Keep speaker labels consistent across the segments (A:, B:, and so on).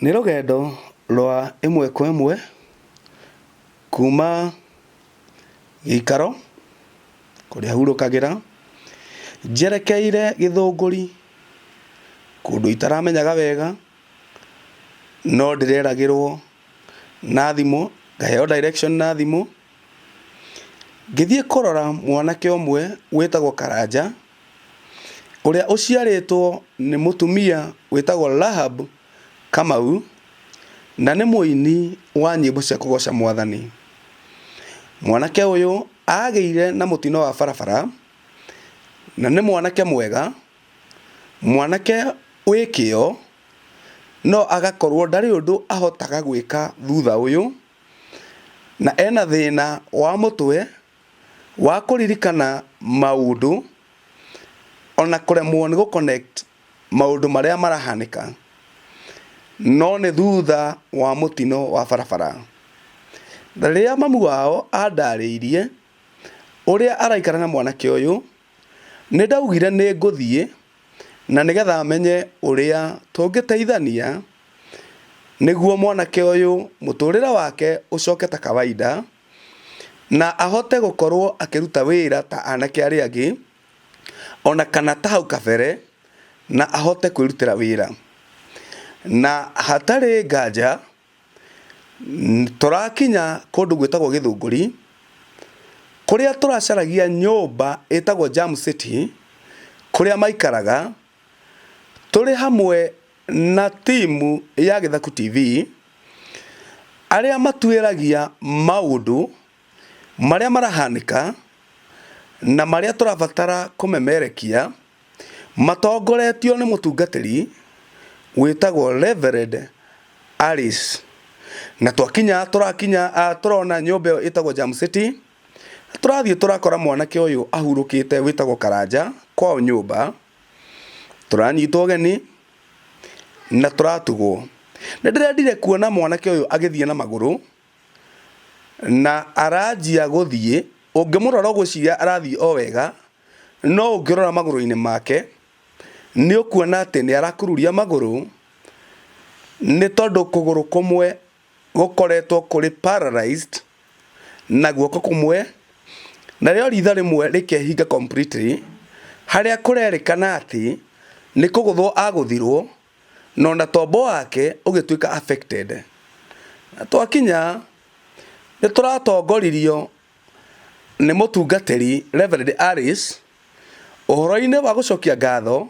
A: Nĩ rũgendo rwa ĩmwe kwa ĩmwe kuma gĩikaro kũrĩa hurũkagĩra njerekeire gĩthũngũri kũndũ itaramenyaga wega no ndĩreragĩrwo na thimũ, ngaheo direction na thimũ ngĩthiĩ kũrora mwanake ũmwe wĩtagwo Karanja. ũrĩa ũciarĩtwo nĩ mũtumia wĩtagwo Rahab Kamau, na nĩ mũini wa nyĩmbo cia kũgoca mwathani. Mwanake ũyũ agĩire na mũtino wa barabara, na nĩ mwanake mwega, mwanake wĩ kĩo, no agakorwo ndarĩ ũndũ ahotaga gwĩka thutha ũyũ, na ena thĩna wa mũtwe. wa kũririkana maũndũ ona kũremwo nĩ gũ connect maũndũ marĩa marahanĩka no nĩ thutha wa mũtino wa barabara. Rĩrĩa mamu wao andarĩirie ũrĩa araikara na mwanake ũyũ nĩ ndaugire nĩ ngũthiĩ na nĩgetha menye ũrĩa tũngĩteithania nĩguo mwanake ũyũ mũtũrĩre wake ũcoke ta kawaida. na ahote gũkorwo akĩruta wĩra ta anake arĩa angĩ, ona kana ta hau kabere, na ahote kwĩrutĩra wĩra. Na hatarĩ nganja, tũrakinya kũndũ gwĩtagwo Gĩthũngũri, kũrĩa tũracaragia nyũmba ĩtagwo Jam City, kũrĩa maikaraga, tũrĩ hamwe Na timu ya Gĩthaku TV, arĩa matuĩragia maũndũ marĩa marahanĩka na marĩa tũrabatara kũmemerekia, matongoretio nĩ mũtungatĩri wĩtagwo Reverend Alice. Na twakinya tũrakinya tũrona nyũmba ĩyo ĩtagwo Jam City, tũrathiĩ tũrakora mwanake ũyũ ahurũkĩte wĩtagwo Karanja kwao nyũmba. tũranyitwo ũgeni na tũratugwo. Nĩ ndĩrendire kuona mwanake ũyũ agĩthiĩ na magũrũ na aranjia gũthiĩ, ũngĩmũrora ũgwĩciria arathiĩ o wega, no ũngĩrora magũrũ-inĩ make nĩ ũkuona atĩ nĩ arakururia magũrũ nĩ tondũ kũgũrũ kũmwe gũkoretwo kũrĩ paralyzed na guoko kũmwe, narĩo ritho rĩmwe rĩkehinga completely, harĩa kũrerĩkana atĩ nĩ kũgũthwo agũthirwo na ona tombo wake ũgĩtuĩka affected. Na twakinya nĩ tũratongoririo nĩ mũtungatĩri Reverend Alice ũhoro-inĩ wa gũcokia ngatho.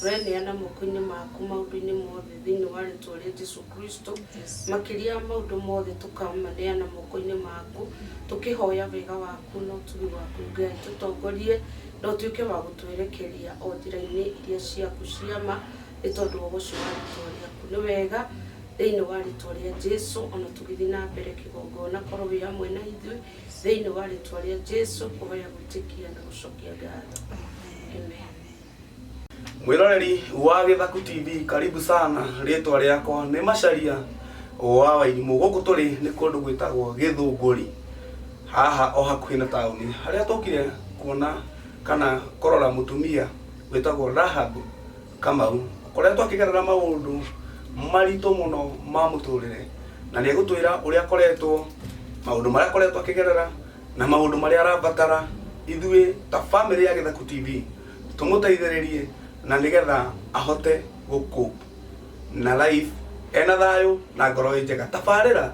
B: Tũreneana moko-inĩ maku maũndũ-inĩ mothe thĩinĩ wa rĩtwa rĩa Jesu Kristo. Makĩria ya maũndũ mothe tũkamaneana moko-inĩ maku tũkĩhoya wega waku na ũtugi waku Ngai. Tũtongorie na ũtuĩke wa gũtwerekeria o njĩra-inĩ iria ciaku cia ma nĩ tondũ wa ũhoti wa rĩtwa rĩaku. Nĩ wega thĩinĩ wa rĩtwa rĩa Jesu ona tũgĩthiĩ na mbere kĩgongona korwo wĩ hamwe na ithuĩ thĩinĩ wa rĩtwa rĩa Jesu kũhoya gwĩtĩkia na gũcokia ngatho. Amen.
A: mwiroreri wa githaku tv karibu sana ritwa riakwa ni macharia wa wairimu guku turi ni kundu gwitagwo githunguri haha o hakuhi na tauni haria tukire kuona kana korora mutumia witagwo rahab kamau kuria twakigerera maundu maritu muno ma muturire na ni gutwira uria akoretwo maundu maria akoretwo akigerera na maũndũ marĩa arabatara ithuĩ ta bamĩrĩ ya Gĩthaku TV tũmũteithĩrĩrie na nĩgetha ahote gũkũ na life ena thayũ na ngoro ĩ njega tabarĩra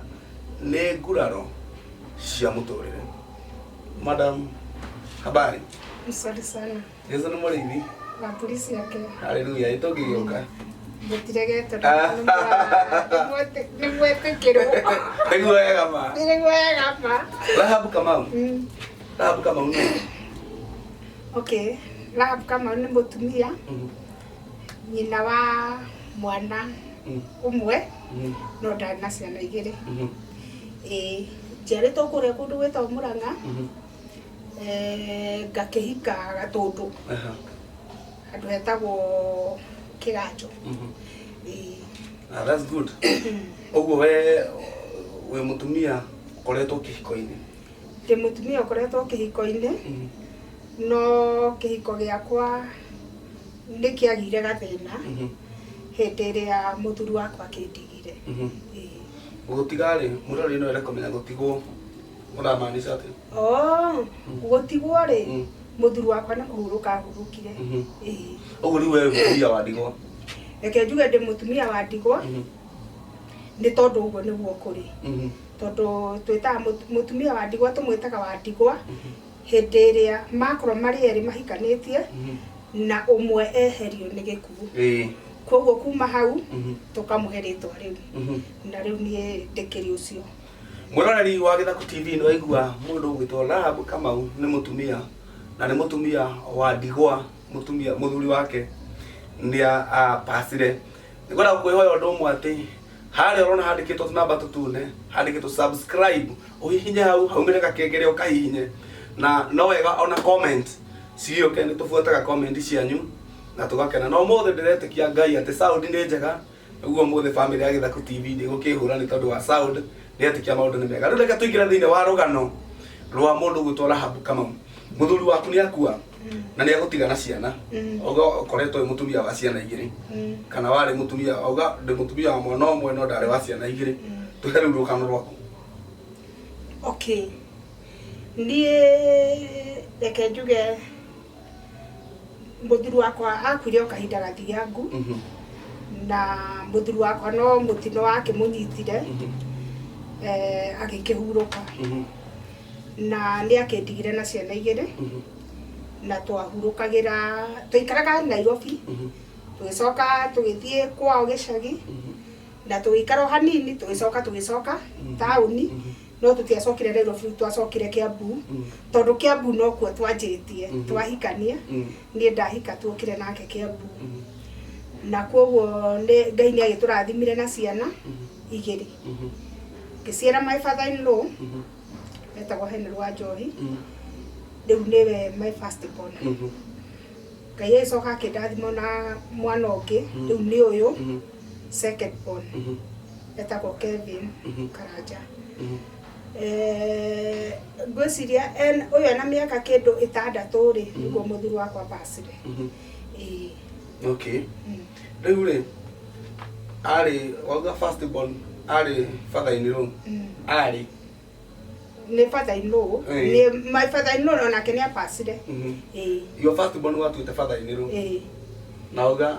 A: nĩ nguraro cia mũtũrĩre madam habari Mzuri
C: sana. Jesu nĩ mũrĩithi.
A: na mbũri ciake
C: Haleluya, nĩ tũngĩgĩũka.
A: gũtiregete
C: Ah. nĩ mwĩtĩkĩrwo Nĩguo wega
A: ma. nĩ wega ma
C: Rahabu Kamau. Mm,
A: Rahabu Kamau nĩ.
C: okay Rahab Kamau nĩ mũtumia Mhm, nyina wa mwana mhm, ũmwe mhm, no ndarĩ na ciana igĩrĩ mhm, ĩĩ njiarĩtwo kũrĩa kũndũ gwĩtagwo mũrang'a mhm, eh, ngakĩhika gatũndũ Aha. handũ hetagwo kĩganjo Mhm. Ĩĩ.
A: Ah, that's good ũguo we wĩ mũtumia ũkoretwo kĩhiko-inĩ ndĩ mũtumia
C: ũkoretwo kĩhiko-inĩ Mhm. no kĩhiko gĩakwa nĩ kĩagire gathĩna Mhm. hĩndĩ ĩrĩa mũthuri wakwa akĩndigire Mhm.
A: Ĩĩ. gũtiga rĩ mũrarĩ no ere kũmenya gũtigwo Ũramaanisha atĩ? Oh,
C: gũtigwo rĩ Mm. mũthuri wakwa nĩ kũhurũka ahurũkire Mhm. Ĩĩ. Ũguo
A: rĩu wewe mũtumia wa ndigwa. reke njuge ndĩ
C: mũtumia wa ndigwa Mhm. nĩ tondũ ũguo nĩguo kũrĩ Mhm. tondũ twĩtaga mũtu- mũtumia wa ndigwa tũmwĩtaga wa ndigwa hĩndĩ ĩrĩa makorwo marĩ erĩ mahikanĩtie Mhm. na ũmwe eherio nĩ gĩkuũ Ĩĩ. kwoguo kuma hau Mhm. tũkamũhe rĩtwa rĩu Mhm. na rĩu niĩ ndĩkĩrĩ ũcio Mwĩroreri wa
A: Gĩthaku TV nĩ waigua mũndũ ũgwĩtwo Rahab Kamau nĩ mũtumia na nĩ mũtumia wa ndigwa mũtumia mũthuri wake nĩ apacire. Nĩ kwenda gũkwĩhoya ũndũ ũmwe atĩ harĩa ũrona handĩkĩtwo tũnamba tũtune handĩkĩtwo subscribe ũhihinye hau haumĩre gakengere ũkahihinye na no wega ona comment cigĩũke nĩ tũbuataga comment cianyu na tũgakena. Na ũmũthĩ ndĩretĩkia Ngai atĩ sound nĩ njega Naguo mũthĩ family ya Githaku TV ndigũkĩhũra nĩ tondũ wa sound nĩ etĩkia maũndũ nĩ mega. Rĩu reke tũingĩre thĩinĩ wa rũgano rwa mũndũ gwĩtwo Rahabu Kamau. Mũthuri waku nĩ akua na nĩ agũtiga na ciana. Oga ũkoretwo wĩ mũtumia wa ciana igĩrĩ kana warĩ mũtumia oga ndĩ mũtumia wa mwana ũmwe no ndarĩ wa ciana igĩrĩ. Tũhe rĩu rũgano rwaku.
C: Okay. Niĩ reke njuge Mũthuri wakwa akuire o kahinda gathiangu na mũthuri wakwa no mũtino wakĩmũnyitire eh, agĩkĩhurũka na nĩ akĩndigire na ciana igĩrĩ na twahurũkagĩra twaikaraga Nairobi tũgĩcoka tũgĩthiĩ kwao gĩcagi na tũgĩikara o hanini tũgĩcoka tũgĩcoka taũni no tũtiacokire Nairobi twacokire Kiambu Mm. tondũ Kiambu nokuo twanjĩtie Mhm. twahikania Mm. niĩ ndahika tuokire nake Kiambu Mm. na kwoguo nĩ- Ngai nĩ agĩtũrathimire na ciana Mhm. igĩrĩ Mhm. ngĩciara my father in law Mhm. etagwo Henry wa Njohi Mm. rĩu nĩwe my first born Mhm. Ngai agĩcoka akĩndathima na mwana ũngĩ Mhm. rĩu nĩ ũyũ Mhm. second born Mhm. etagwo kevin Mhm. karanja Mhm. Eh, ngwĩciria en- ũyũ ena mĩaka kĩndũ ĩtandatũ rĩ nĩguo mũthuri wakwa bacire Mhm. Ĩĩ, okay
A: mm. rĩu rĩ arĩ wauga first born arĩ father-inĩ rũu Mm. arĩ
C: nĩ fathainũ Ĩĩ. nĩ my fathainũ onake nĩ abacire Mhm. Ĩĩ, your
A: first born watuĩte father-inĩ rũu ĩĩ. na uga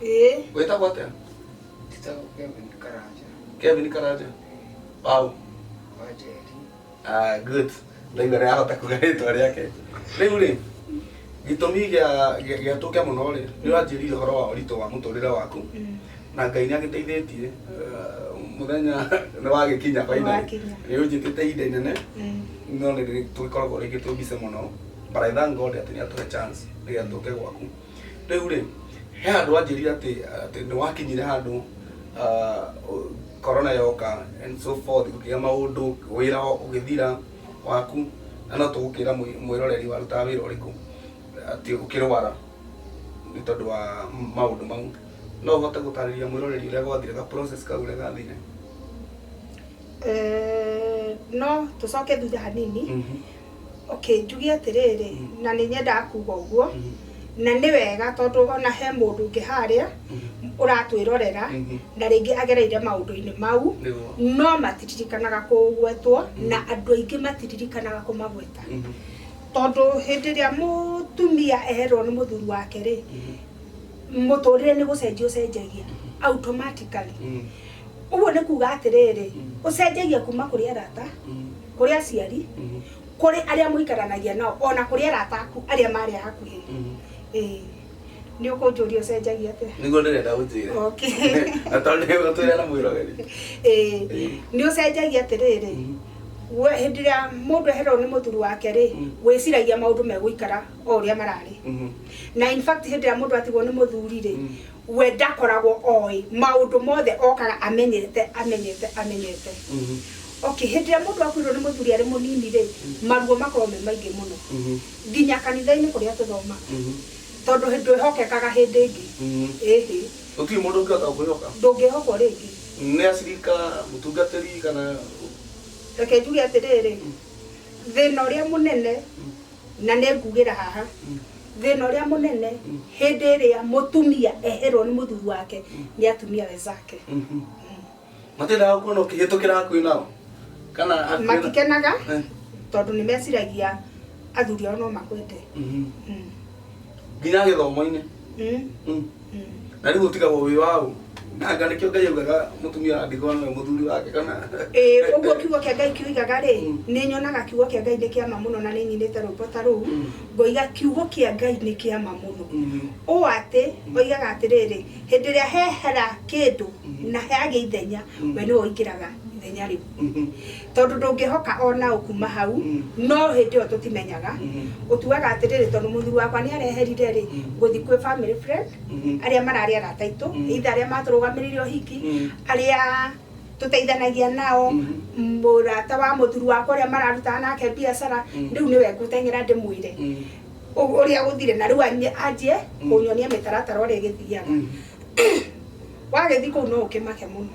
A: Eh. Wĩtagwo atĩa? Njĩtagwo
D: Kevin Karanja. Kevin Karanja.
A: Pau. Wa Njeri. Ah, good. Ndaigua nĩ ahota kuga rĩtwa rĩake. Rĩu rĩ, gĩtũmi gĩa- gĩa- gĩatũke mũno rĩ, nĩ ũranjĩrire ũhoro wa ũritũ wa mũtũrĩre waku na ngai nĩ agĩteithĩtie ah, mũthenya nĩ wagĩkinya finally. Nĩwakinya. nĩ ũnjĩtĩte ihinda inene Mm. no nĩ tũgĩkoragwo rĩngĩ twĩ mbice mũno but I thank God atĩ nĩ atũhe chance nĩgetha tũke gwaku Rĩu rĩ, he handũ wanjĩrire atĩ atĩ nĩ wakinyire handũ ah, ũ- corona yoka and so forth gũkĩgĩa maũndũ wĩra ũgĩthira waku na no tũgũkĩra mwĩ- mwĩroreri warutaga wĩra ũrĩkũ atĩ ũkĩrwara nĩ tondũ wa maũndũ mau no ũhote gũtarĩria mwĩroreri ũrĩa gwathire ga process kau ũrĩa gathire Eh,
C: no tũcoke thutha hanini Mhm. okay njuge atĩrĩrĩ na nĩ nyendaga kuga ũguo Mhm. na nĩ wega tondũ ona he mũndũ ũngĩ harĩa Mhm. ũratwĩrorera Mhm. na rĩngĩ agereire maũndũ-inĩ mau Nĩguo. no matiririkanaga kũgwetwo na andũ aingĩ matiririkanaga kũmagweta Mhm. tondũ hĩndĩ ĩrĩa mũtumia erwo nĩ mũthuri wake rĩ Mhm. mũtũrĩre nĩ gũcenjia ũcenjagia automatically Mhm. Ũguo nĩ kuuga atĩrĩrĩ, ũcenjagia kuma kũrĩ arata, kũrĩ aciari, kũrĩ arĩa mũikaranagia nao, ona kũrĩ arata aku arĩa marĩ a hakuhĩ. Ĩĩ. Nĩ ũkũnjũria ũcenjagia atĩa? Nĩguo ndĩrenda ũnjĩre.
A: Okay.
C: Na tondũ nĩ
A: ũgũtwĩra na mwĩroreri. Ĩĩ. Ĩĩ.
C: Nĩ ũcenjagia atĩrĩrĩ, we hĩndĩ ĩrĩa mũndũ eherwo nĩ mũthuri wake rĩ, wĩciragia maũndũ megũikara o ũrĩa mararĩ. Na in fact hĩndĩ ĩrĩa mũndũ atigwo nĩ mũthuri rĩ, we ndakoragwo oĩ maũndũ mothe okaga amenyete amenyete amenyete Mhm. okay hĩndĩ ĩrĩa mũndũ akuirwo nĩ mũthuri arĩ mũnini rĩ maruo makorwo me maingĩ mũno Mhm. nginya kanitha-inĩ kũrĩa tũthomaga Mhm. tondũ hĩ- ndwĩhokekaga hĩndĩ ĩngĩ Mhm. ĩhĩ gũtirĩ mũndũ
A: ũngĩhota kwĩhoka ndũngĩhokwo rĩngĩ
C: nĩ acirika
A: mũtungatĩri kana reke
C: njuge atĩrĩrĩ thĩna ũrĩa mũnene na nĩ ngugĩra haha thĩna ũrĩa mũnene hĩndĩ ĩrĩa mũtumia eherwo nĩ mũthuri wake nĩ atumia wezake
A: matendaga gũkuona ũkĩhĩtũkĩra hakuhĩ nao kana hakuhĩ na- matikenaga
C: Eh. tondũ nĩ meciragia athuri ao no makwende Mhm. Mm. nginya
A: gĩthomo-inĩ Eh, Mm. eh. na rĩu ũtigagwo wĩ waũ na anga nĩkĩo ngai augaga mũtumia wa ndigwa nĩwe mũthuri wake kana Ĩĩ, ũguo kiugo
C: kĩa ngai kĩoigaga rĩ Mm. nĩ nyonaga kiugo kĩa ngai nĩ kĩama mũno na nĩ nyinĩte rwĩmbo ta rũu Mm. ngoiga kiugo kĩa ngai nĩ kĩama mũno Mm. ũũ atĩ oigaga atĩrĩrĩ hĩndĩ ĩrĩa hehera kĩndũ Mm. na heagĩa ithenya Mm. we nĩwe ũingĩraga ithenya rĩu Mhm. tondũ ndũngĩhoka o naũ kuma hau Mm. no hĩndĩ ĩyo tũtimenyaga Mhm. ũtuaga atĩrĩrĩ tondũ mũthuri wakwa nĩ areherire rĩ Mhm. ngũthi kwĩ family friend Mhm. arĩa mararĩ arata aitũ Mhm. either arĩa matũrũgamĩrĩire ũhiki Mhm. arĩa tũteithanagia nao Mhm. mũrata wa mũthuri wakwa ũrĩa mararutaga nake biacara Mhm. rĩu nĩwe ngũteng'era ndĩmwĩre Mm. ũ- ũrĩa gũthire na rĩu anjie- anjie Mhm. kũnyonia mĩtaratara ũrĩa ĩgĩthiaga Mhm. wagĩthi kũu no ũkĩmake mũno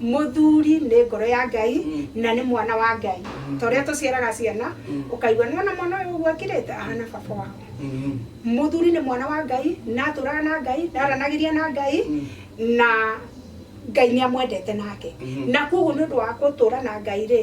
C: mũthuri nĩ ngoro ya ngai na nĩ mwana wa ngai ta ũrĩa tũciaraga ciana ũkaigua nĩwona mwana ũyũ ũguo akirĩte ahana baba wao mũthuri nĩ mwana wa ngai na atũraga na ngai na aranagĩria na ngai na ngai nĩ amwendete nake na koguo nĩ ũndũ wa gũtũra na ngai rĩ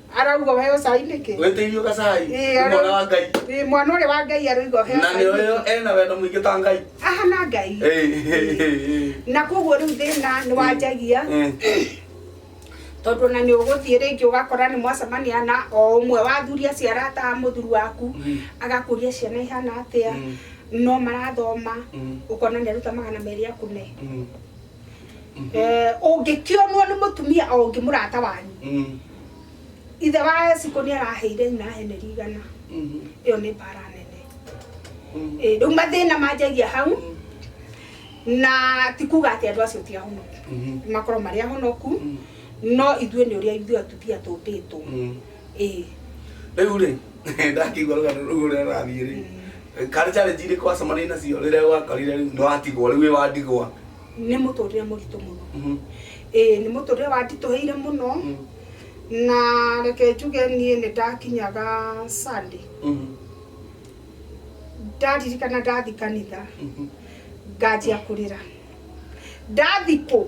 C: arauga ũheo cai nĩkĩ wĩtĩirio gacai Ĩĩ, nĩ
A: mwana wa ngai Ĩĩ, mwana ũrĩa wa ngai
C: arauga ũheo na cai nĩ ũyũ nĩkĩ? ena wendo
A: mũingĩ ta ngai ahana ngai Ĩĩ.
C: na koguo rĩu thĩna nĩ wanjagia Ĩĩ. tondũ ona nĩ ũgũthiĩ rĩngĩ ũgakora nĩ mwacemania na o ũmwe wa athuri acio arataha mũthuri waku Mm. agakũria ciana ihana atĩa Mm. no marathoma Mm. ũkona nĩ aruta magana merĩ akune Mm. Eh, ũngĩkĩonwo nĩ mũtumia o ũngĩ mũrata wanyu Mm. ithe wa esiko nĩ araheire nyina heneri igana Mhm. ĩyo nĩ mbara nene Mm. Eh, rĩu mathĩna manjagia hau Mm. na ti kuga atĩ andũ acio ti ahonoku Mhm. makorwo marĩ ahonoku Mm. no ithuĩ nĩ ũrĩa ithuĩ atumia tũmbĩtwo Mm. Ĩĩ.
A: Rĩu rĩ, ndakĩigua rũgano rũu ũrĩa rũrathiĩ rĩ, karĩ challenge irĩkũ wacemanirie nacio rĩrĩa wakorire rĩu nĩ watigwo, rĩu wĩ wa ndigwa? Nĩ mũtũrĩre
C: mũritũ mũno. Mhm. Ĩĩ nĩ mũtũrĩre wanditũhĩire mũno, Mm. na reke njuge niĩ nĩ ndakinyaga Sunday. Mhm. Ndaririkana ndathi kanitha, Mhm. nganjia kũrĩra. Ndathikwo,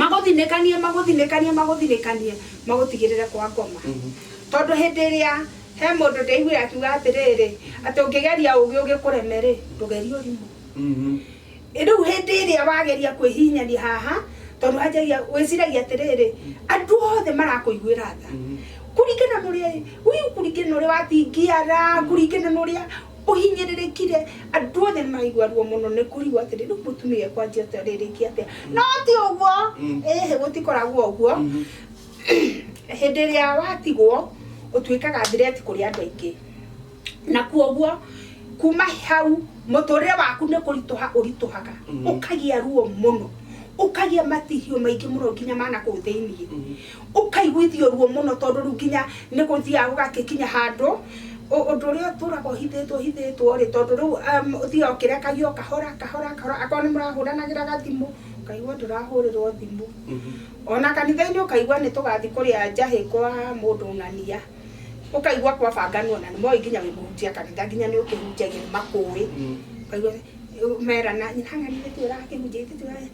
A: magũthinĩkanie magũthinĩkanie magũthinĩkanie magũtigĩrĩre kwa ngoma tondũ hĩndĩ ĩrĩa he mũndũ ndaiguire akiuga atĩrĩrĩ atĩ ũngĩgeria ũgĩ ũgĩkũreme rĩ ndũgerie ũrimũ rĩu hĩndĩ ĩrĩa wageria kwĩhihinyania haha tondũ wanjagia wĩciragia atĩrĩrĩ andũ othe marakũiguĩra tha kũringana na ũrĩa ũyũ kũringana na ũrĩa watingiara kũringana na ũrĩa ũhinyĩrĩrĩkire
C: andũ othe maigua ruo mũno nĩ kũrigwo atĩrĩ rĩu mũtumia ekwanjia atĩa rĩrĩki atĩa no ti ũguo Mm. ĩhĩ gũtikoragwo ũguo Mhm. hĩndĩ ĩrĩa watigwo ũtuĩkaga thireti kũrĩ andũ aingĩ na kuoguo kuma hau mũtũrĩre waku nĩ kũritũha ũritũhaga Mhm. ũkagĩa ruo mũno ũkagĩa matihio maingĩ mũno nginya mana kũu thĩinĩ Mhm. Ũkaiguithio ruo mũno tondũ rĩu nginya nĩ gũthiaga gũgakĩkinya handũ ũ- ũndũ ũrĩa ũtũraga ũhithĩtwo hithĩtwo rĩ, tondũ rĩu um, ũthiaga ũkĩrekagio o kahora kahora kahora, akorwo nĩ mũrahũranagĩra gathimũ ũkaigua ndũrahũrĩrwo thimũ ona kanitha-inĩ ũkaigua nĩ tũgathi kũrĩa njahĩ kwa mũndũ ng'ania ũkaigua kwabanganwo na nĩ moĩ nginya wĩ mũhunjia kanitha nginya nĩ ũkĩhunjagia nĩ makũĩ Mm. ũkaigua merana nyina ng'ania ĩtĩ ũrakĩhunjia ĩtĩ tũra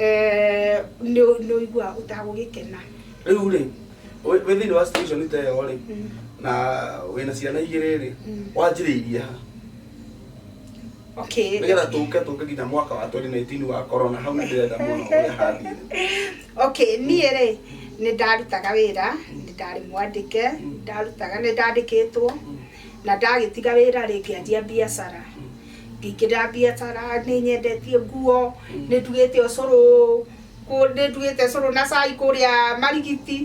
C: Eh, nĩ nĩ ũigua ũtagũgĩkena rĩu rĩ
A: wĩ wĩ thĩinĩ wa situation ta ĩyo rĩ Mm. na wĩna ciana igĩrĩ rĩ Mm. wanjĩrĩirie ha okay
C: nĩgetha tũke tũke nginya
A: mwaka wa 2019 wa corona hau nĩndĩrenda mũno ũrĩa hathiĩ okay
C: niĩ rĩ nĩ ndarutaga wĩra nĩ ndarĩ mwandĩke ndarutaga nĩ ndandĩkĩtwo Na ndagĩtiga wĩra-rĩ, ngĩanjia mbiacara. Ngĩingĩra mbiacara, nĩ nyendetie nguo, nĩ ndugĩte ũcũrũ, nĩ ndugĩte ũcũrũ na cai kũrĩa Marigiti,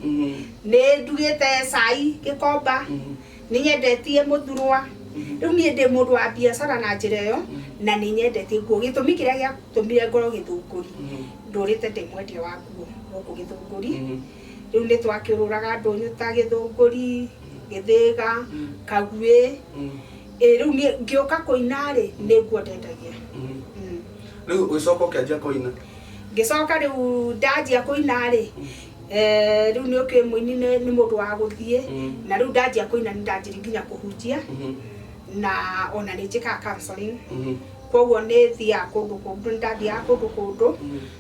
C: nĩ ndugĩte cai Gĩkomba, nĩ nyendetie mũthurwa. Rĩu niĩ ndĩ mũndũ wa mbiacara na njĩra ĩyo, na nĩ nyendetie nguo. Gĩtũmi kĩrĩa gĩatũmire ngorwo Gĩthũngũri, ndũrĩte ndĩ mwendia wa nguo gũkũ Gĩthũngũri. Rĩu nĩ twakĩũrũraga ndũnyũ ta gĩthũngũri, gĩthĩga, kaguĩ. Ĩĩ rĩu niĩ ngĩũka kũina-rĩ, nĩguo ndendagia.
A: Rĩu ũgĩcoka ũkĩanjia kũina? Ngĩcoka rĩu
C: ndanjia kũina-rĩ, eh, rĩu nĩũkĩũĩ mũini nĩ- nĩ mũndũ wa gũthiĩ, na rĩu ndanjia kũina nĩndanjirie nginya kũhunjia, na ona nĩnjĩkaga counselling. Kuoguo nĩthiaga kũndũ kũndũ, nĩndathiaga kũndũ kũndũ.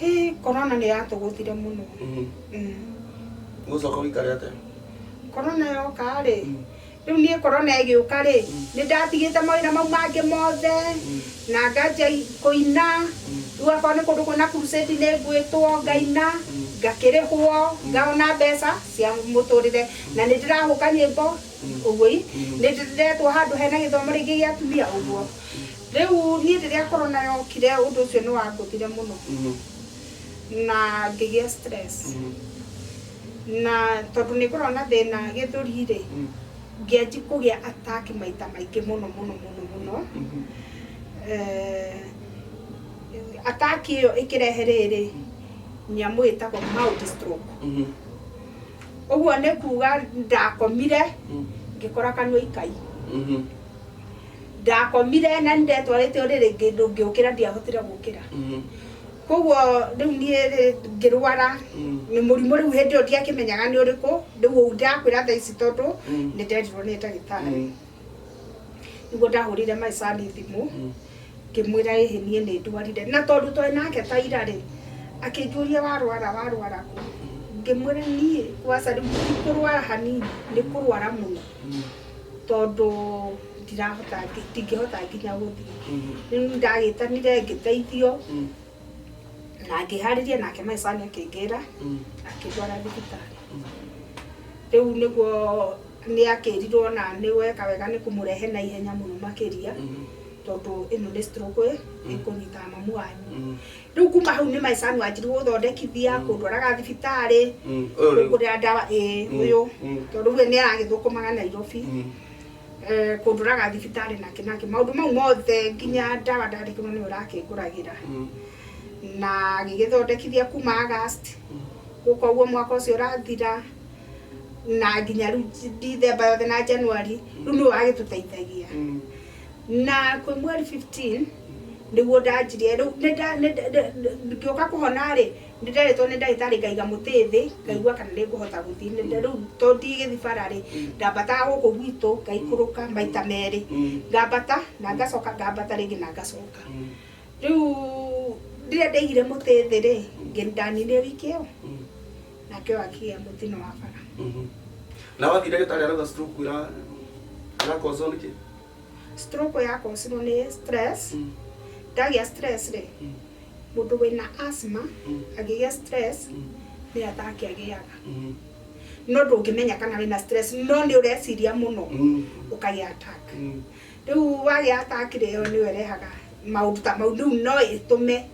A: Hĩ,
C: korona nĩ yatũgũthire mũno. Mhm. Mm. Gũcoka
A: ũikare atĩa? Korona
C: yoka rĩ, rĩu niĩ korona ĩgĩũka rĩ, nĩ ndatigĩte mawĩra mau mangĩ mothe, na nganjia kũina, rĩu akorwo nĩ kũndũ kwĩna crusade nĩ ngwĩtwo ngaina, ngakĩrĩhwo, ngona mbeca cia mũtũrĩre, na nĩ ndĩrahũka nyĩmbo, ũguo i, nĩ ndĩretwo handũ hena gĩthomo rĩngĩ gĩa atumia, ũguo. Rĩu niĩ rĩrĩa korona yokire ũndũ ũcio nĩ wangũthire mũno na ngĩgĩa stress na tondũ nĩ ngoragwo na thĩna gĩthũri rĩ ngĩanji kũgĩa attack maita maingĩ mũno mũno mũno mũno Eh, attack ĩyo ĩkĩrehe rĩrĩ nyamũ ĩtagwo mild stroke ũguo nĩ kuga ndakomire ngĩkora kanua ikai Ndakomire na nĩndetwarĩte ũrĩrĩ ngĩ- ndũngĩũkĩra ndiahotire gũkĩra Mhm. koguo rĩu niĩ rĩ ngĩrwara Mm. nĩ mũrimũ rĩu hĩndĩ ĩyo ndiakĩmenyaga nĩ ũrĩkũ rĩu ũu ndakwĩra thaa ici tondũ Mm. nĩ nderirwo nĩ ndagĩtarĩ Mhm. nĩguo ndahũrĩire maicani thimũ Mhm. ngĩmwĩra ĩhĩ niĩ nĩ ndwarire na tondũ twarĩ nake ta ira rĩ akĩnjũria warwara warwara kũ ngĩmwĩra niĩ waca rĩu ti kũrwara hanini nĩ kũrwara mũno Mhm. tondũ ndirahota ndingĩhota nginya gũthiĩ rĩu ndagĩtanire ngĩteithio na ngĩharĩria nake my son akĩngĩra akĩndwara thibitarĩ rĩu nĩguo nĩ akĩrirwo na nĩ weka wega nĩ kũmũrehe na ihenya mũno makĩria tondũ ĩno nĩ stroke ĩkũnyita mamu wanyu rĩu kuma hau nĩ maica nwanjirwo gũthondekithia kũndwaraga thibitarĩ Mm, ũyũ rĩu. kũngũrĩra ndawa ĩ ũyũ mm. tondũ rĩu nĩ aragĩthũkũmaga nairobi Mm. Eh, kũndũraga thibitarĩ na kĩnakĩ maũndũ mau mothe nginya ndawa ndandĩkĩrwo nĩ ũrakĩngũragĩra Mm. na ngĩgĩthondekithia kuma agast gũka ũguo mwaka ũcio ũrathira na nginya rĩu ndithemba yothe na januari rĩu nĩ ũragĩtũteithagia Mm. na kwĩ mweri 15 nĩguo ndanjirie rĩu nĩ nda- nĩ nda- nĩ- nĩ- ngĩũka kũhona rĩ nĩ nderĩtwo nĩ ndagĩtarĩ ngaiga mũtĩ thĩ ngaigua kana nĩ ngũhota gũthiĩ Nĩ nda- rĩu to ndigĩthi bara rĩ ndambataga gũkũ gwitũ ngaikũrũka maita merĩ Mm. ngambata na ngacoka ngambata rĩngĩ na ngacoka Mm. rĩu rĩrĩa ndaigire mũtĩ thĩ rĩ ngĩ- ndaninire wiki ĩyo Mm. nake ũyũ akĩgĩa mũtino wa bara Mhm. na wathi
A: ndagĩtarĩ arauga stroke ĩra ĩrakozwo nĩkĩ stroke
C: ya kosirwo nĩ stress Mm. ndagĩa stress rĩ Mm. mũndũ wĩna asthma Mm. angĩgĩa stress Mm. nĩ ataki agĩaga Mhm. no ndũngĩmenya kana wĩna stress no nĩ ũreciria mũno Mhm. ũkagĩa attack Mhm. rĩu wagĩa attack rĩ yo nĩyo ĩrehaga maũndũ ta mau rĩu no ĩtũme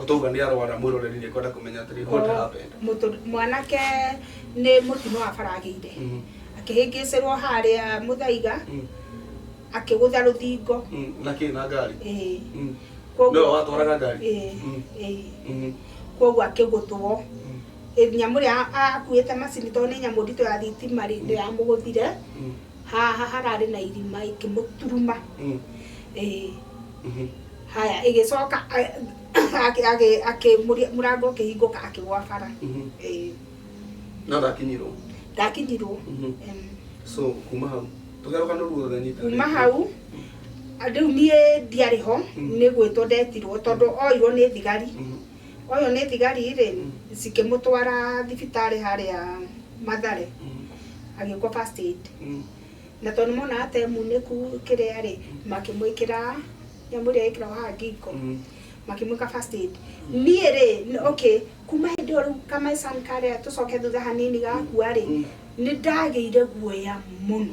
A: Otauga ni arwara mwiroreri ni kwenda kumenya atiri what Ko- happened. mũtũ- mwanake
C: nĩ mũtino wa bara agĩire Mm, akĩhĩngĩcĩrwo harĩa mũthaiga mm, akĩgũtha rũthingo mm, na ki na
A: ngari. Ĩĩ. Mm, Koguo-
C: Nĩwe watwaraga ngari?
A: Ĩĩ, Mm. ĩĩ. mm,
C: koguo akĩgũthwo mm, nyamũ ĩrĩa akuĩte macini tondũ nĩ nyamũ nditũ ya thitima rĩ ndĩramũgũthire mm. haha hararĩ na irima ikĩmũturuma Mm. ĩĩ Mhm. haya ĩgĩcoka a- akĩ- akĩ- akĩ- mũri- mũrango ũkĩhingũka akĩgwa bara Mhm. ĩĩ
A: No ndakinyirwo. ndakinyirwo Mhm. em, So kuma hau. Tũgerũka nũru thutha nyita. kuma hau
C: rĩu niĩ ndiarĩ ho Mm. nĩ gwĩtwo ndetirwo tondũ oirwo nĩ thigari Mhm. Oywo nĩ thigari rĩ cikĩmũtwara thibitarĩ harĩa Mathare agĩkwo first aid na tondũ nĩmonaga ta emunĩku kĩrĩa rĩ makĩmwĩkĩra nyamũ ĩrĩa ĩkĩragwo haha ngingo makĩmwĩka first aid niĩ rĩ okay kuma hĩndĩ ĩyo rĩu ka my son karĩa tũcoke thutha hanini gakua rĩ nĩndagĩire guoya mũno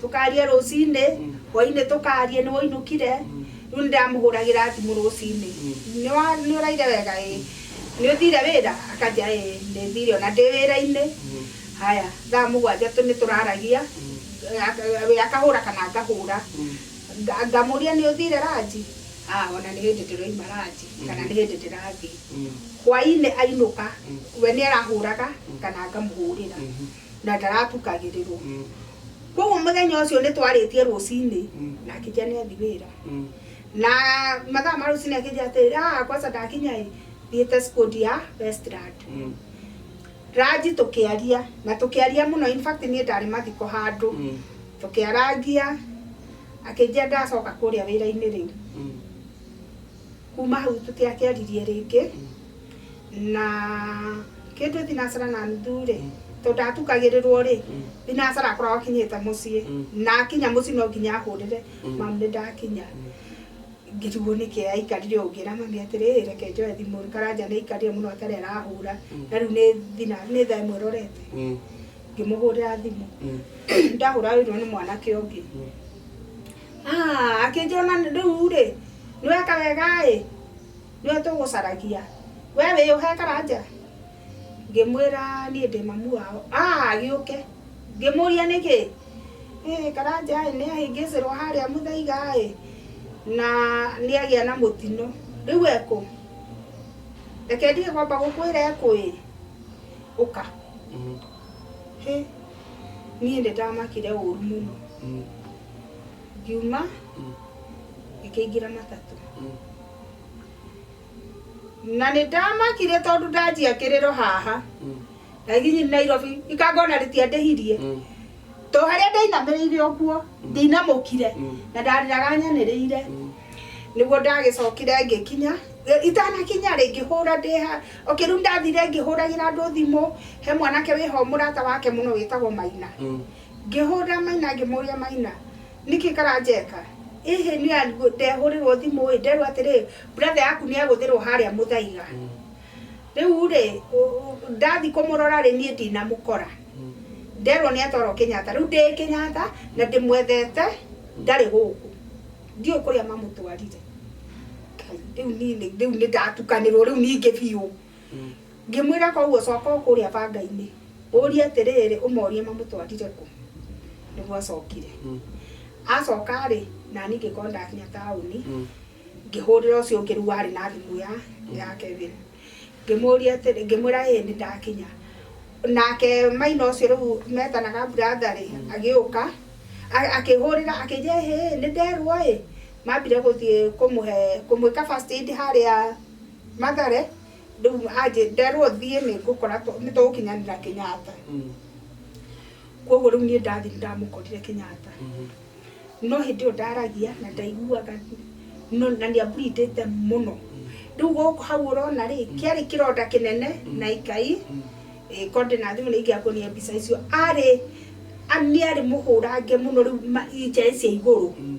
C: Tũkaaria rũcinĩ, hwaĩ-inĩ tũkaaria, nĩ wainũkire? Rĩu nĩ ndĩramũhũragĩra thimũ rũcinĩ, nĩ wa, nĩ ũraire wega ĩĩ? Nĩ ũthire wĩra? Akanjĩra ĩĩ nĩ thire o na ndĩ wĩra-inĩ. Haya, thaa mũgwanja tũ, nĩ tũraragia, we akahũra kana ngahũra. Ngamũria nĩ ũthire ranji? Aa o na nĩ hĩndĩ ndĩroima ranji, kana nĩ hĩndĩ ndĩrathiĩ. Hwaĩ-inĩ ainũka, we nĩ arahũraga kana ngamũhũrĩra. na ndaratukagĩrĩrwo Mm. koguo mũthenya ũcio nĩ twarĩtie rũcinĩ Mm. na akĩnja nĩ athi wĩra Mm. na mathaa ma rũcinĩ akĩnja atĩrĩ "Ah, kwanza ndakinya ĩ thiĩte skundi ya westland Mm. ranji tũkĩaria na tũkĩaria mũno in fact niĩ ndarĩ mathiko handũ Mm. tũkĩarangia akĩnjia ndacoka kũrĩa wĩra-inĩ rĩu Mm. Kuma hau tũtiakĩaririe rĩngĩ na kĩndũ thinacara na nuthu rĩ tondũ ndatukagĩrĩrwo rĩ thinacara akoragwo akinyĩte mũciĩ na akinya mũciĩ no nginya ahũrĩre mamu nĩ ndakinya ngĩrigwo nĩkĩ aikarire ũngĩ na mami atĩrĩ reke njoe thimũ rĩ karanja nĩ aikarire mũno atarĩ arahũra na rĩu nĩ thina nĩ thaa ĩmwe rorete ngĩmũhũrĩra thimũ ndahũra oirwo nĩ mwanake ũngĩ Ah, akĩnjĩra ona rĩu rĩ nĩweka wega ĩ nĩwe tũgũcaragia we wĩyũhe karanja ngĩmwĩra niĩ ndĩ mamu wao ah agĩũke ngĩmũria nĩkĩ "Ĩ, karanja ĩ nĩahĩngĩcĩrwo harĩa mũthaiga ĩ na nĩagĩa na mũtino rĩu ekũ reke ndige kwamba gũkwĩra ekũ ĩ ũka Mm, hĩ niĩ nĩndamakire ũru mũno mm. ngiuma ngĩkĩingĩra matatũ na nĩ ndamakire tondũ ndanjia kĩrĩro haha ndathiĩ nairobi ikangona rĩtiandĩhirie to harĩa ndainamĩrĩire ũguo ndinamũkire na ndarĩraga nyanĩrĩire nĩguo ndagĩcokire ngĩkinya itanakinya rĩ ngĩhũra ndĩ ha okay rĩu ndathire ngĩhũragĩra andũ thimũ he mwanake wĩho mũrata wake mũno wĩtagwo maina Ngĩhũra Maina ngĩmũria Maina nĩkĩ karanjeka ĩ hĩ nĩ a- ndehũrĩrwo thimũ ĩ nderwo atĩrĩ brother yaku nĩ agũthĩrwo harĩa mũthaiga rĩu rĩ ũ- ũ- ndathi kũmũrora rĩ niĩ ndinamũkora nderwo nĩ atwarwo Kenyatta rĩu ndĩ Kenyatta na ndĩmwethete ndarĩ gũkũ ndiũĩ kũrĩa mamũtwarire Ngai, rĩu niĩ nĩ- rĩu nĩ ndatukanĩrwo rĩu ningĩ biũ Ngĩmwĩra, Kwoguo coka o kũũrĩa banga-inĩ, ũũrie atĩrĩrĩ, ũmoorie mamũtwarire kũ. Nĩguo acokire. Acoka-rĩ, na niĩ ngĩkorwo ndakinya taũni, ngĩhũrĩra ũcio ũngĩ rĩu warĩ na thimũ ya ya Kevin. Ngĩmũũria atĩrĩ, ngĩmwĩra ĩĩ nĩ ndakinya. Nake maina ũcio rĩu metanaga brother-rĩ, agĩũka, akĩhũrĩra, akĩnjĩra ĩhĩ, nĩ nderwo-ĩ, mambire gũthiĩ kũmũhe, kũmwĩka first aid harĩa... Mathare ndĩu anjĩ nderwo thiĩ nĩ ngũkora tũ- nĩ tũgũkinyanĩra Kenyatta Mm. koguo rĩu niĩ ndathi nĩ ndamũkorire Kenyatta Mhm. no hĩndĩ ĩyo ndaragia na ndaiguaga no na nĩ ambritĩte mũno rĩu gũkũ hau ũrona rĩ kĩarĩ kĩronda kĩnene na ikai Mm. eh, konde na thimũ nĩ ingĩakuonia mbica icio arĩ a- nĩ arĩ mũhũrange mũno rĩu ma- injae cia igũrũ Mm.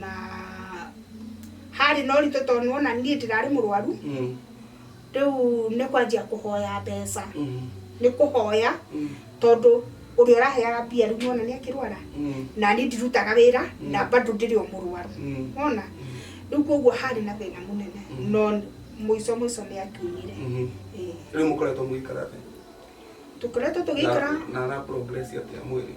C: na harĩ na ũritũ tondũ nĩwona niĩ ndirarĩ mũrwaru Mm. rĩu nĩ kwanjia kũhoya mbeca Mm. nĩ kũhoya Mm. tondũ ũrĩa ũraheaga mbia rĩu nĩwona nĩ akĩrwara Mm. na niĩ ndirutaga wĩra Mm. na bado ndĩrĩ o mũrwaru Mm. ona rĩu koguo harĩ na thĩna mũnene Mm. no mũico mũico nĩ akiumire Mhm. Ĩĩ. rĩu
A: mũkoretwo mũgĩikara thĩ tukoretwo
C: tũgĩikara na ara progress
A: atia mwĩrĩ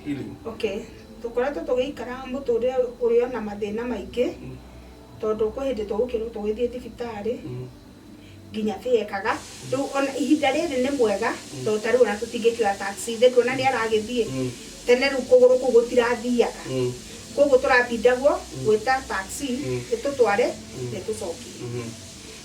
A: healing okay
C: tukoretwo tũgĩikara mũtũrĩre ũrĩ ona mathĩna maingĩ Mm. tondũ kwĩ hĩndĩ tũgũkĩrwo tũgĩthiĩ thibitarĩ Mm. nginya tĩekaga rĩu ona ihinda rĩrĩ nĩ mwega tondũ ta rĩu ona tũtingĩkĩoya taxi thĩ kuona nĩ aragĩthiĩ Mm. tene rĩu kũgũrũ kũu gũtirathiaga Mm. koguo tũrabindagwo gwĩta taxi Mm. ĩtũtware Mm. ĩtũcokie Mhm.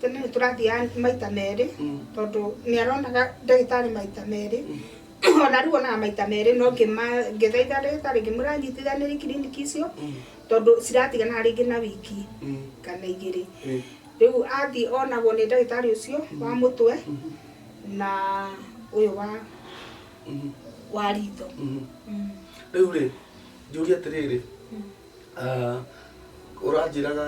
C: Tene nĩ tũrathiaga maita merĩ tondũ nĩ aronaga ndagĩtarĩ maita merĩ. Ona rĩu onaga maita merĩ no ngĩthaitha ndagĩtarĩ ngĩmwĩra anyitithanĩrie kiriniki icio tondũ ciratigana rĩngĩ na wiki kana igĩrĩ. Rĩu athiĩ onagwo nĩ ndagĩtarĩ ũcio wa mũtwe na ũyũ wa ritho.
A: Rĩu rĩ, njũrie atĩrĩrĩ... Ah, ũranjĩraga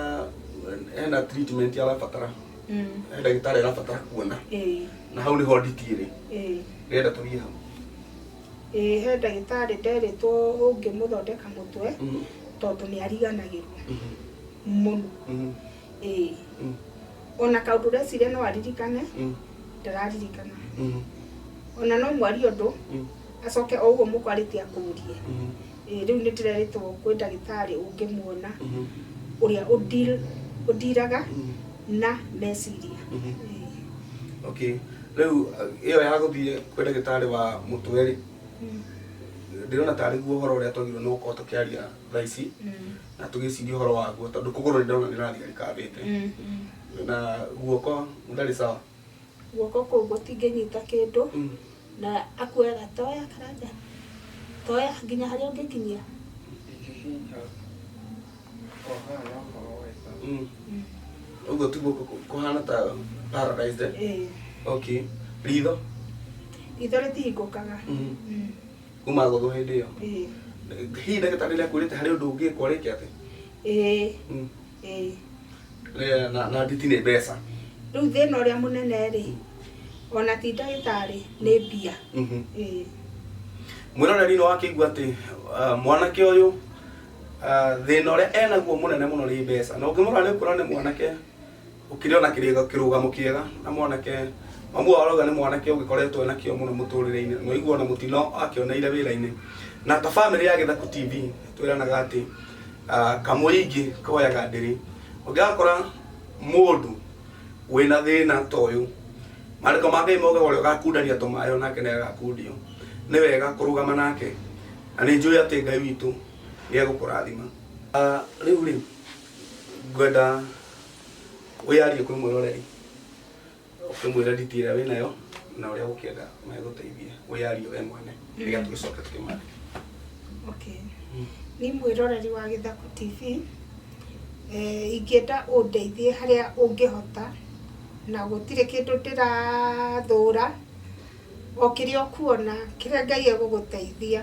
A: ena treatment arabatara Mm. he ndagĩtarĩ arabatara kuona Ĩĩ, na hau nĩho nditi ĩrĩ ĩĩ. ndĩrenda tũthiĩ hau Ĩĩ,
C: he ndagĩtarĩ nderĩtwo ũngĩmũthondeka mũtwe Mhm, tondũ nĩ ariganagĩrwo mhm, mũno mhm. Ĩĩ. Mm. ona kaundu ndeciria no aririkane Mm. ndararirikana Mhm. ona no mwarie ũndũ Mm. acoke o ũguo mũkwarĩtie akũrie Mhm. Ĩĩ, rĩu nĩ ndĩrerĩtwo kwĩ ndagĩtarĩ ũngĩmuona Mhm. ũrĩa ũdeal- ũdiraga Mhm. na meciria
A: Mhm. Ĩĩ. okay rĩu uh, ĩyo ya gũthiĩ kwĩ ndagĩtarĩ wa mũtwe rĩ Mm. ndĩrona tarĩ guo ũhoro ũrĩa twagĩrĩirwo nĩ gũkorwo tũkĩaria thaa ici Mm. na tũgĩciria ũhoro waguo tondũ kũgũrũ nĩ ndĩrona nĩ rathiga rĩkambĩte na guoko ndarĩ sawa guoko kũu
C: gũtingĩnyita kĩndũ Mm. na akuoyaga toya karanja toya nginya harĩa ũngĩkinyia
A: Mm. ũguo ti guoko kũ- kũhana ta paralyzed eh? okay ritho itho
C: rĩtihingũkaga Mhm. Mm.
A: kuma gũthwo hĩndĩ ĩyo Ĩĩ. hihi ndagĩtarĩ nĩ akwĩrĩte harĩ ũndũ ũngĩkwo rĩke atĩ Ĩĩ. Mm. Ĩĩ. Eh, na na nditi nĩ mbeca Rĩu thĩna ũrĩa
C: mũnene rĩ, ona ti ndagĩtarĩ nĩ mbia. Mhm. Ĩĩ.
A: mwĩroreri nĩ wakĩigua atĩ ah, mwanake ũyũ ah, thĩna ũrĩa enaguo mũnene mũno nĩ mbeca na ũngĩmũrora nĩ ũkuona nĩ mwanake gũkĩrĩ ona kĩrĩga- kĩrũgamo kĩega na mwanake mamu wao arauga nĩ mwanake ũgĩkoretwo na kĩo mũno mũtũrĩre-inĩ na ũiguo na mũtino akĩoneire wĩra-inĩ na ta bamĩrĩ ya gĩthaku tv twĩranaga atĩ ah, kamũingĩ koyaga ndĩrĩ ũngĩgakora mũndũ wĩna thĩna ta ũyũ maandĩko ma ngai maugaga ũrĩa ũgakundania tũmayo nake nĩ agakundio nĩ wega kũrũgama nake na nĩ njũĩ atĩ ngai witũ nĩ egũkũrathima Ah, rĩu rĩ ngwenda wĩyarie kwĩ mwĩroreri ũkĩmwĩra nditi ĩrĩa wĩ nayo na ũrĩa ũkĩenda megũteithie wĩyarie we mwene nĩgetha tũgĩcoke tũkĩmare Okay.
C: Ni mwĩroreri wa Gĩthaku TV eh, ingĩenda ũndeithie harĩa ũngĩhota na gũtirĩ kĩndũ ndĩrathũra o kĩrĩa ũkuona kĩrĩa Ngai egũgũteithia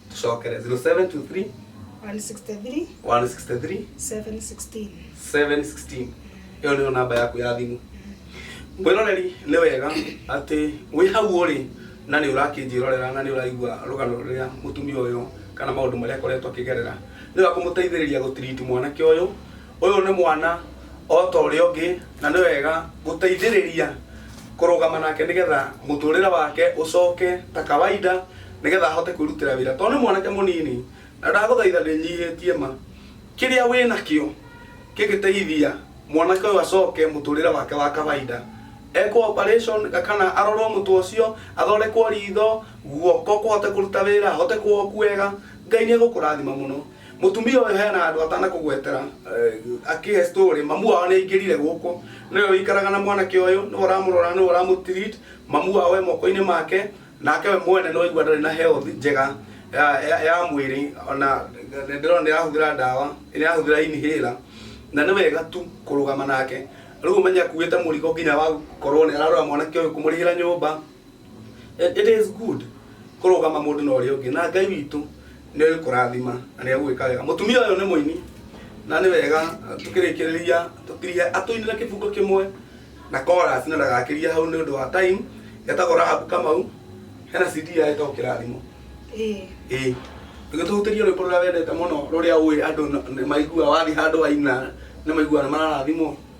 A: tucokere 0723 163 163 716 716
C: ĩyo nĩyo namba
A: yaku ya thimũ mwĩroreri nĩ wega atĩ wĩ hau ũrĩ na nĩ ũrakĩnjĩrorera na nĩ ũraigua rũgano rũrĩa mũtumia ũyũ kana maũndũ marĩa akoretwo akĩgerera nĩ ũrakũmũteithĩrĩria gũtiriti mwanake ũyũ Ũyũ nĩ mwana o ta ũrĩa ũngĩ na nĩ wega gũteithĩrĩria kũrũgama nake nĩgetha mũtũrĩre wake ũcoke ta kawaida nĩgetha ahote kwĩrutĩra wĩra tondũ nĩ mwanake mũnini na ndagũthaitha ndĩnyihĩtie ma kĩrĩa wĩ nakĩo kĩngĩteithia mwanake ũyũ acoke mũtũrĩre wake wa kawaida ekwo operation kana arorwo mũtwe ũcio athondekwo ritho guoko kũhote kũruta wĩra ahote kuoku wega ngai nĩ egũkũrathima mũno mutumia uyu hena andu atana kugwetera uh, akihe story mamu wao ni ingirire guku niwe wikaraga na mwanake uyu niwe uramurora niwe uramutreat mamu wao e moko-ini make nake we mwene no igua ndari na health njega ya, ya, ya mwiri ona ndirona ndirahuthira ndawa ndirahuthira inhaler na nĩ wega tu kũrũgama nake rĩu ũmenye akuĩte mũrigo nginya wa gũkorwo nĩ ararora mwanake ũyũ kũmũrĩhĩra nyũmba It is good kũrũgama mũndũ na ũrĩa ũngĩ na Ngai witũ nĩ ũkũrathima na nĩ egũgĩka wega. Mũtumia ũyũ nĩ mũini na nĩ wega tũkĩrĩkĩrĩria tũkirie atũinĩre kĩbungo kĩmwe na chorus na ndagakĩria hau nĩ ũndũ wa time. Etagwo Rahabu Kamau, hena CD yake ĩtagwo Kĩrathimo. Ĩĩ. Ĩĩ. Tũgĩtũhutĩrie rwĩmbo rũrĩa wendete mũno rũrĩa ũĩ andũ nĩ maiguaga wathiĩ handũ waina nĩ maiguaga nĩ mararathimwo.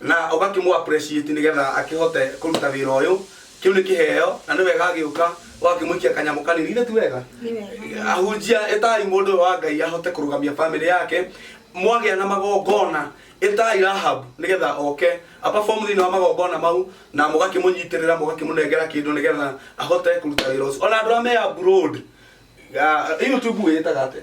A: na ũgakĩmũ appreciate nĩgetha akĩhote kũruta wĩra ũyũ kĩu nĩ kĩheo na nĩ wega agĩũka ũgakĩmũikia kanyamũ kanini githĩ ti wega ahunjia ĩtai mũndũ ũyũ wa ngai ahote kũrũgamia famĩlĩ yake mwagĩa na magongona ĩtai rahab nĩgetha oke aperform thĩinĩ wa magongona mau na mũgakĩmũnyitĩrĩra mũgakĩmũnengera kĩndũ nĩgetha ahote kũruta wĩra ũcio ona andũ arĩa me abroad ah, youtube ĩtaga atĩa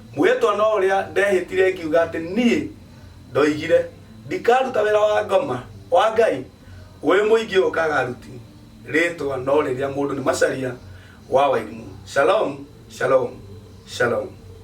A: Mwĩhĩtwa no ũrĩa ndehĩtire ngiuga atĩ niĩ ndoigire ndikaruta wĩra wa ngoma wa Ngai wĩ mũingĩ ũkaga ruti rĩtwa no rĩrĩa mũndũ nĩ Macharia wa Wairimu. Shalom, shalom, shalom.